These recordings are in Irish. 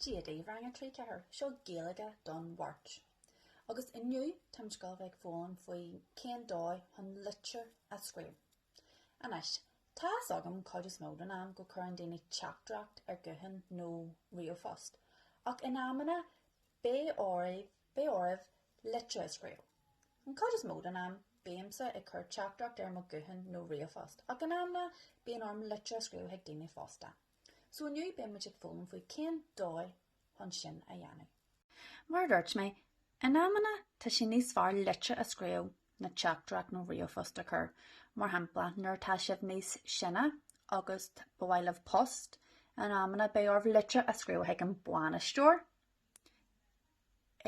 Cad é mar Rang 3 4 Seo Gaeilge don Mháirt. Agus inniu táimid ag gabháil a bheith ag foghlaim faoi cén dóigh chun litir a scríobh. Anois, tá a fhios agam cuid is mó den am go gcuireann daoine teachtaireacht ar guthán nó ríomhphost, ach in amanna beidh oraibh litir a scríobh. An cuid is mó den am, bímse ag cur teachtaireacht ar mo ghuthán nó ríomhphost, ach in amanna bíonn orm litir a scríobh chuig daoine fosta. So inniu beidh muid ag foghlaim faoi cén dóigh chun sin a dhéanamh. Mar a dúirt mé, in amanna tá sé níos fearr litir a scríobh ná teachtaireacht nó ríomhphost a chur. Mar shampla, nuair atá sibh níos sine agus ba mhaith libh post, in amanna beidh oraibh litir a scríobh chuig an bainisteoir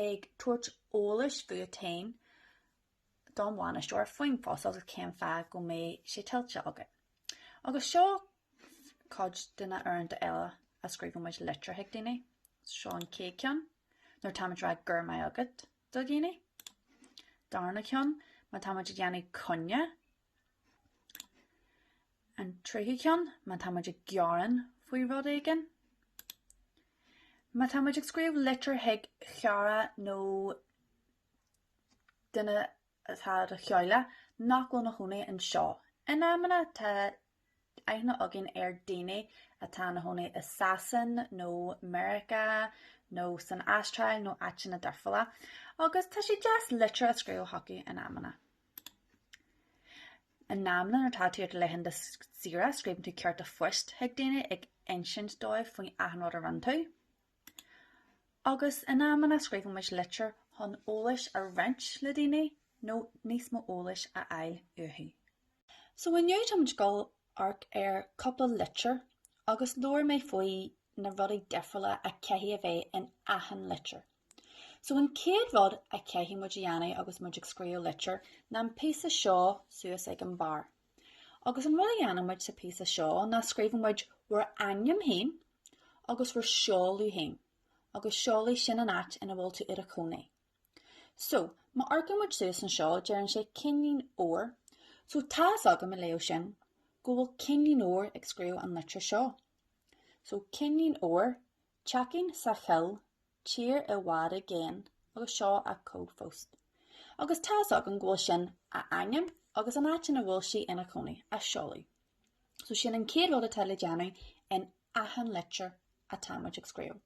ag tabhairt eolais fút féin don bhainisteoir faoin phost agus cén fáth go mbeidh sé tuillte agat. Agus seo cuid de na uaireanta eile a scríobhann muid litir chuig daoine, seo an chéad ceann, nuair táimid rá go raibh maith agat do dhaoine. Darna ceann, má táimid ag dhéanamh coinne. An tríú ceann, má táimid ag gearán faoi rud éigin. Má táimid ag scríobh litir chuig chara nó duine atá i do theaghlach nach bhfuil ina chónaí anseo. In amanna tá aithne againn ar dhaoine atá ina chónaí i Sasain nó Meiriceá nó san Astráil nó áiteanna difriúla agus tá sé deas litir a scríobh chucu in amanna. In amanna nuair atá tú ar laethanta saoire scríobhann tú cárta phoist chuig daoine ag insint dóibh faoi achan rud a rinne tú. Agus in amanna scríobhann muid litir chun eolais a roinnt le daoine nó níos mó eolais a fháil uathu. So inniu táimid dul amharc ar cúpla litir agus labhróidh mé faoi na rudaí difriúla a chaithfidh a bheith in achan litir. So an chéad rud a chaithfidh muid a dhéanamh agus muid ag scríobh litir ná an píosa seo suas ag an barr. Agus an rud a dhéanann muid sa phíosa seo ná scríobhann muid bhur ainm féin agus bhur seoladh féin agus seoladh sin an áit ina bhfuil tú i do chónaí. So, má amharcann muid suas anseo, deireann sé Cinnín Óir. So, tá's agam, ag léamh sin, go bhfuil Cinnín Óir ag scríobh an litir seo. So, Cinnín Óir, teachín sa choill Tír i bhfad i gcéin agus seo an cód phoist. Agus tá's agam go bhfuil sin a hainm agus an áit ina bhfuil sí ina cónaí, a seoladh. So sin an chéad rud atá le déanamh in achan litir atá muid ag scríobh,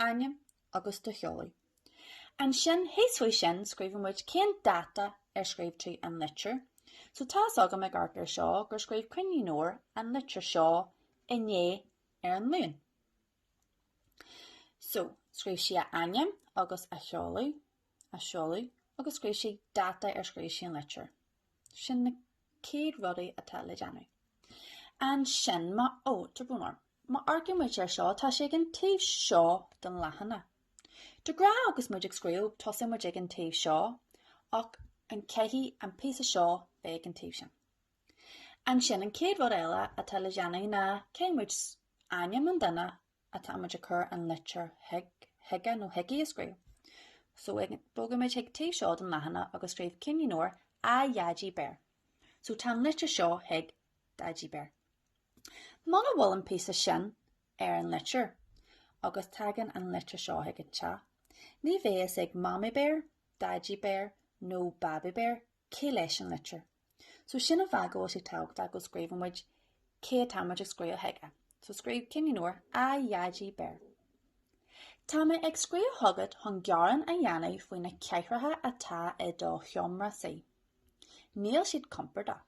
ainm agus do sheoladh. Ansin, thíos faoi sin, scríobhann muid cén dáta ar scríobh tú an litir. So tá's agam ag amharc ar seo gur scríobh Cinnín Óir an litir seo inné ar an Luan. So, scríobh sí a hainm agus a seoladh, a seoladh, agus scríobh sí dáta ar scríobh sí an litir. Sin na céad rudaí atá le déanamh. Ansin má amharc-, oh, má amharcann muid ar seo, tá sé ag an taobh seo den leathanach. De ghnáth agus muid ag scríobh, tosaíonn muid ag an taobh seo, ach caithfidh an píosa seo bheith ag an taobh sin. Ansin, an chéad rud eile atá le déanamh ná, cuirfimid? Ainm an duine atá muid ag cur an litir chuige nó chuici a scríobh. So, bogfaidh muid chuig taobh seo den leathanach agus scríobh Cinnín Óir A Dhaidí Béar. So, tá an litir seo chuig Daidí Béar. Muna bhfuil an píosa sin ar an litir agus tagann an litir seo chuig an teach, ní bheidh a fhios ag Mamaí Béar, Daidí Béar nó Babaí Béar cé leis an litir? So sin an fáth go bhfuil sé tábhachtach go scríobhann muid cé atá muid ag scríobh chuige. So scríobh Cinnín Óir, A Dhaidí Béar. Tá mé ag scríobh chugat chun gearán a dhéanamh faoi na cathaoireacha atá i do sheomra suí. Níl siad compordach,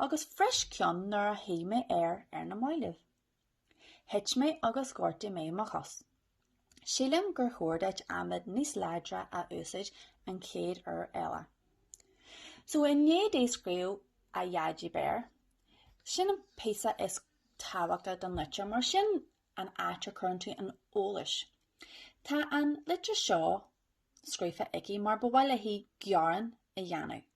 agus bhris cionn nuair a shuigh mé air ar na mallaibh. Thit mé agus ghortaigh mé mo chos. Sílim gur chóir duit adhmad níos láidre a úsáid an chéad uair eile. So i ndiaidh di scríobh A Dhaidí Béar, sin an píosa is tábhachtaí den litir mar sin an áit a chuireann tú an t-eolas. Tá an litir seo scríofa aici mar ba mhaith léi gearán a dhéanamh.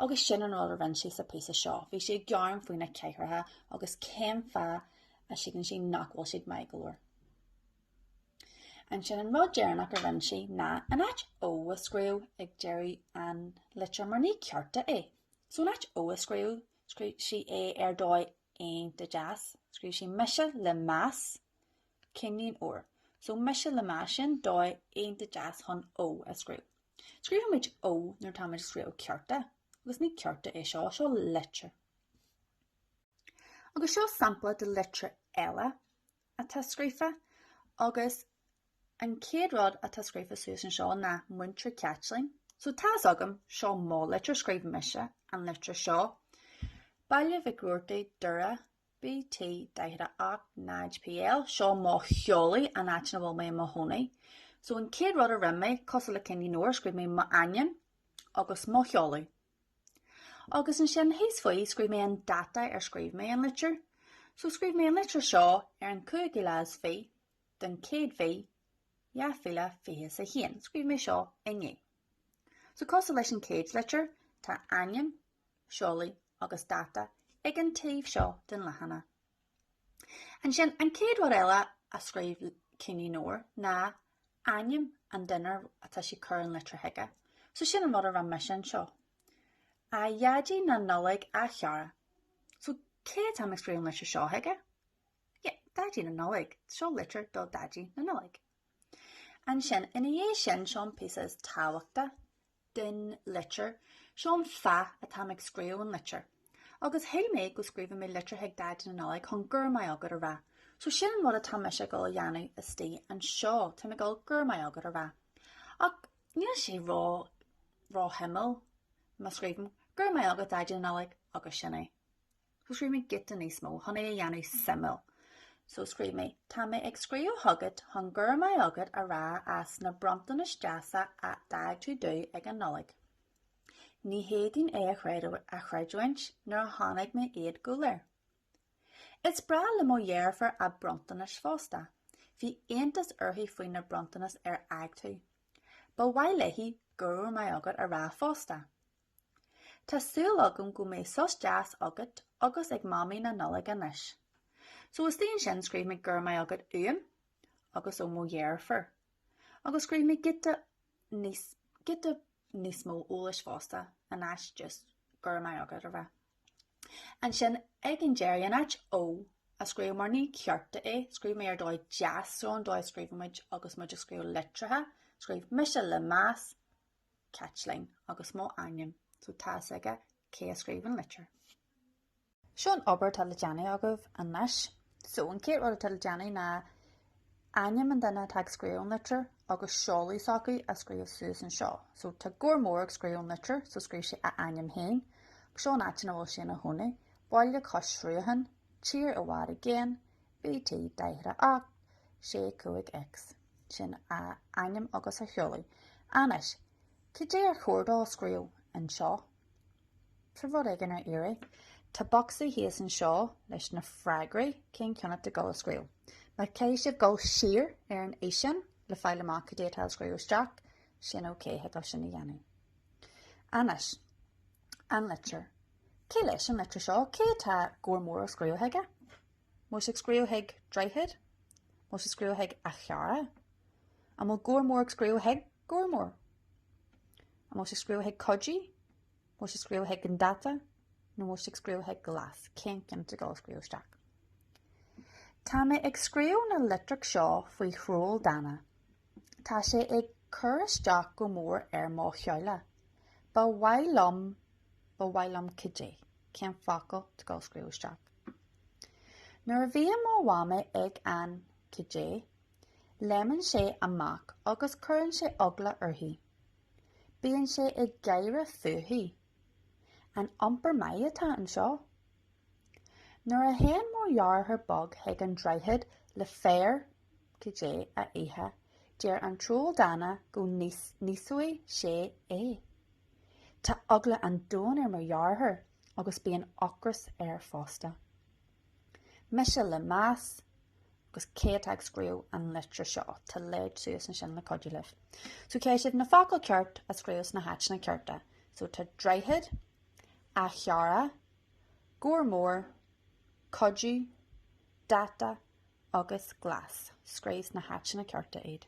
Agus sin an rud a rinne sí sa píosa seo, bhí sí ag gearán faoi na cathaoireacha agus cén fáth a shíleann sí nach bhfuil siad maith go leor. Ansin an rud deireanach a rinne sí ná an áit ó a scríobh ag deireadh an litir mar ní cárta é. So an áit ó a scríobh scríobh sí é ar dhóigh iontach deas, scríobh sí mise le meas Cinnín Óir. So mise le meas sin dóigh iontach deas chun ó a scríobh. Scríobhaimid ó nuair atáimid ag scríobh cárta, agus ní cárta é seo, seo litir. Agus seo sampla de litir eile atá scríofa, agus an chéad rud atá scríofa thuas anseo ná Múinteoir Caitlín. So tá's agam, seo mo litir, scríobh mise an litir seo. Baile Mhic Robhartaigh, Doire, BT 48 0 PL, Seo mo sheoladh, an áit ina bhfuil mé i mo chónaí. So an chéad rud a rinn mé, cosúil le Cinnín Óir, scríobh mé m'ainm agus mo sheoladh. Agus ansin thíos faoi scríobh mé an dáta ar scríobh mé an litir. So scríobh mé an litir seo ar an 25ú den chéad mhí, 2021. Scríobh mé seo inné. So cosúil leis an chéad litir, tá ainm, seoladh agus dáta ag an taobh seo den leathanach. Ansin, an chéad rud eile a scríobh Cinnín Óir ná ainm an duine atá sé ag cur an litir chuige. So sin an rud a rinne mise anseo. A Dhaidí na Nollag a chara. So cé atá mé ag scríobh an litir seo chuige? Yeah, Daidí na Nollag. Seo litir do Dhaidí na Nollag. Ansin, ina dhiaidh sin, seo an píosa is tábhachta den litir, seo an fáth atáim ag scríobh an litir. Agus shíl mé go scríobhann mé litir chuig Daidí na Nollag chun Go raibh maith agat a rá. So sin an rud atá mise ag dul a dhéanamh istigh anseo, táim ag dul Go raibh maith agat a rá. Ach níl sé ró, ró shuimiúil má scríobhaim Go raibh maith agat Daidí na Nollag agus sin é. So scríobh mé giota níos mó chun é a dhéanamh suimiúil. So scríobh mé, Tá mé ag scríobh chugat chun Go raibh maith agat a rá as na bronntanais deasa a d'fhág tú domh ag an Nollaig. Ní fhéadfainn é a chreidiúint nuair a chonaic mé iad go léir. Is breá le mo dheirfiúr a bronntanais fosta. Bhí iontas uirthi faoi na bronntanais ar fhág tú. Ba mhaith léi Go raibh maith agat a rá fosta. Tá súil agam go mbeidh sos deas agat agus ag Mamaí na Nollag anois. So istigh ansin scríobh mé Go raibh maith agat uaim agus ó mo dheirfiúr. Agus scríobh mé giota níos, giota níos mó eolais fosta in áit just Go raibh maith agat a rá. Ansin ag an deireadh, in áit Ó a scríobh mar ní cárta é, scríobh mé Ar dóigh deas, so an dóigh a scríobhann muid agus muid ag scríobh litreacha, scríobh mise le meas, Caitlín, agus mo ainm, so tá fhios aige cé a scríobh an litir. Seo an obair atá le déanamh agaibh anois. So, an chéad rud atá le déanamh ná ainm an duine atá ag scríobh an litir agus seoladh s'acu a scríobh suas anseo. So, tá Gabhar Mór ag scríobh an litir, so scríobh sé a ainm féin. Seo an áit ina bhfuil sé ina chónaí, Baile Cois Srutháin, Tír i bhFad i gCéin, BT 48, 65X. Sin a ainm agus a sheoladh. Anois, cad é ar chóir dó scríobh anseo? Tá rud éigin ar iarraidh. Tá bocsaí thíos anseo leis na freagraí. Cén ceann atá ag dul a scríobh? Má chaithfidh sibh dul siar ar an fhíseán le fáil amach cad é atá le scríobh isteach, sin ok, thig libh sin a dhéanamh. Anois, an litir. Cé leis an litir seo? Cé atá Gabhar Mór ag scríobh chuige? An bhfuil sé ag scríobh chuig droichead, an bhfuil sé ag scríobh chuig a chara, an bhfuil gabhar mór ag scríobh chuig gabhar mór? An bhfuil sé ag scríobh chuig Cody? An bhfuil sé ag scríobh chuig an dáta? Nó an bhfuil sé ag scríobh chuig Glas? Cén ceann atá ag dul a scríobh isteach? Tá mé ag scríobh na litreach seo faoi Throll Dána. Tá sé ag cur isteach go mór ar mo theaghlach. Ba mhaith liom, ba mhaith liom cad é, cén focal, atá tú ag dul a scríobh isteach. Nuair a bhíonn mo mhamaí ag an, cad é, léimeann sé amach agus cuireann sé eagla uirthi. Bíonn sé ag gáire fúithi. An iompar maith atá anseo? Nuair a théann mo dheartháir beag chuig an droichead le féar, cad é a ithe, deir an troll dána go n-íosfaidh sé é. Tá eagla an domhain ar mo dheartháir agus bíonn ocras air fosta. Mise le meas, agus cé atá ag scríobh an litir seo, tá leid suas ansin le cuidiú libh. So caithfidh sibh na focail ceart a scríobh sna háiteanna cearta? So tá droichead, a chara, gabhar mór, cuidiú, dáta agus glas. Scríobh sna háiteanna cearta iad.